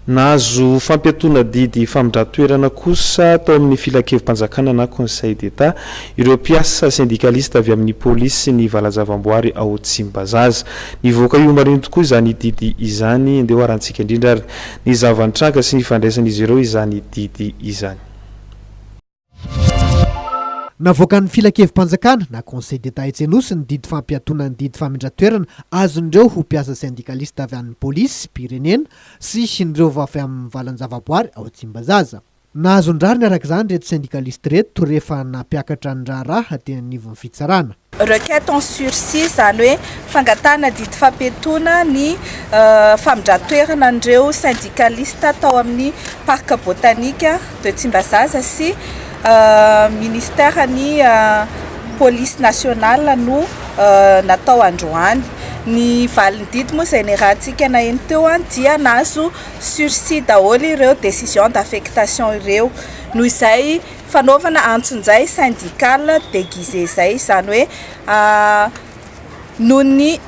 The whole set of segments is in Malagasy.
Nahazo fampiatoana didy famindran-toerana kosa tao amin'ny Filankevi-panjakana na Conseil d'Etat ireo mpiasa sendikalista avy amin'ny polisy ny Valajavamboary ao Tsimbazaza. Nivoaka io omaly io tokoa izany didy izany. Andeha hoharantsika indrindra ary ny zava-nitranga sy ny fandraisan'izy ireo izany didy izany. Navoakan'ny Filankevi-panjakana na Conseil d'Etat etsy Anosy ny didy fampiatoana ny didy famindra-toerana azon'ireo ho mpiasa sendikalista avy amin'ny Polisy, mpirenena, sy ireo vao avy amin'ny valan-javaboary ao Tsimbazaza. Nahazo ny rariny araka izany ireto sendikalisty ireto rehefa nampiakatra ny raharaha teny anivon'ny fitsarana. Requête en sursis, izany hoe fangatahana didy fampiatoana ny famindran-toerana an'ireo syndicaliste tao amin'ny Parc Botanique de Tsimbazaza sy Ministère ny Police Nationale no natao androany. Ny valin'ny didy moa izay niarahantsika naheno teo dia nahazo sursis daholo ireo décision d'affectation ireo. Noho izay fanaovana antsonjay syndical deguisé zay, izany hoe noho ny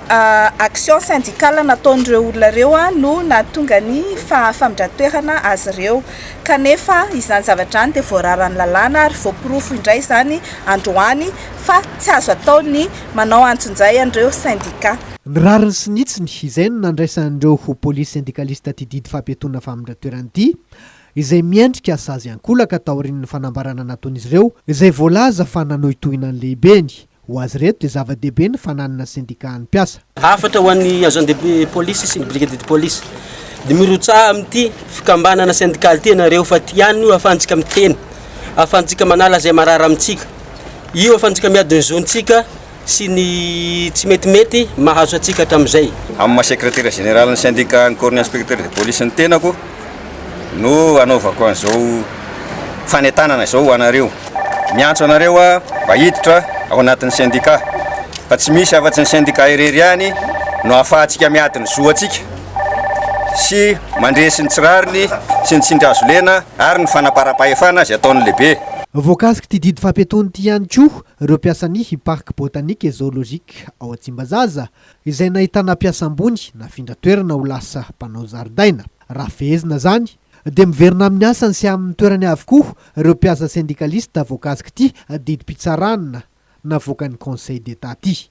action syndical nataon'ireo olona ireo no nahatonga ny famindra-toerana azy ireo kanefa izany zavatra izany dia voararan'ny lalàna ary voaporofo indray izany androany fa tsy azo atao ny manao antsonjay an'ireo syndicat. Ny rariny sy ny hitsiny, izay no nandraisan'ireo ho police syndicaliste ity didy fampiatoana famindra-toerana ity, izay miendrika sazy ankolaka taorian'ny fanambarana nataon'izy ireo izay voalaza fa nanohitohina ny lehibeny. Ho azy ireto dia zava-dehibe ny fananana sendika an'ny mpiasa. Hafatra ho an'ny agent de police sy ny brigadier de police. Dia mirotsaha amin'ity fikambanana sendikaly ity ianareo fa ity ihany no ahafahantsika miteny, ahafahantsika manala izay marary amintsika. Io ahafahantsika miady ny zontsika. sy ny tsy metimety mahazo antsika hatramin'izay. Amin'ny maha sekretera jeneralin'ny sendikàn'ny Corps-n'ny Inspecteurs de Police ny tenako no anaovako an'izao fanentanana izao ho anareo. Miantso anareo aho mba hiditra ao anatin'ny sendikà fa tsy misy afa-tsy ny sendikà irery ihany no ahafahantsika miady ny zo antsika sy mandresy ny tsy rariny sy ny tsindry hazolena ary ny fanamparam-pahefana izay ataon'ny lehibe. Voakasik'ity didy fampiatoana ity ihany koa ireo mpiasan'ny Parc Botanique et Zoologique ao Tsimbazaza, izay nahitana mpiasa ambony nafindra toerana ho lasa mpanao zaridaina. Raha fehezina izany, dia miverina amin'ny asany sy amin'ny toerany avokoa ireo mpiasa sendikalista voakasik'ity didim-pitsarana navoakan'ny Conseil d'Etat ity.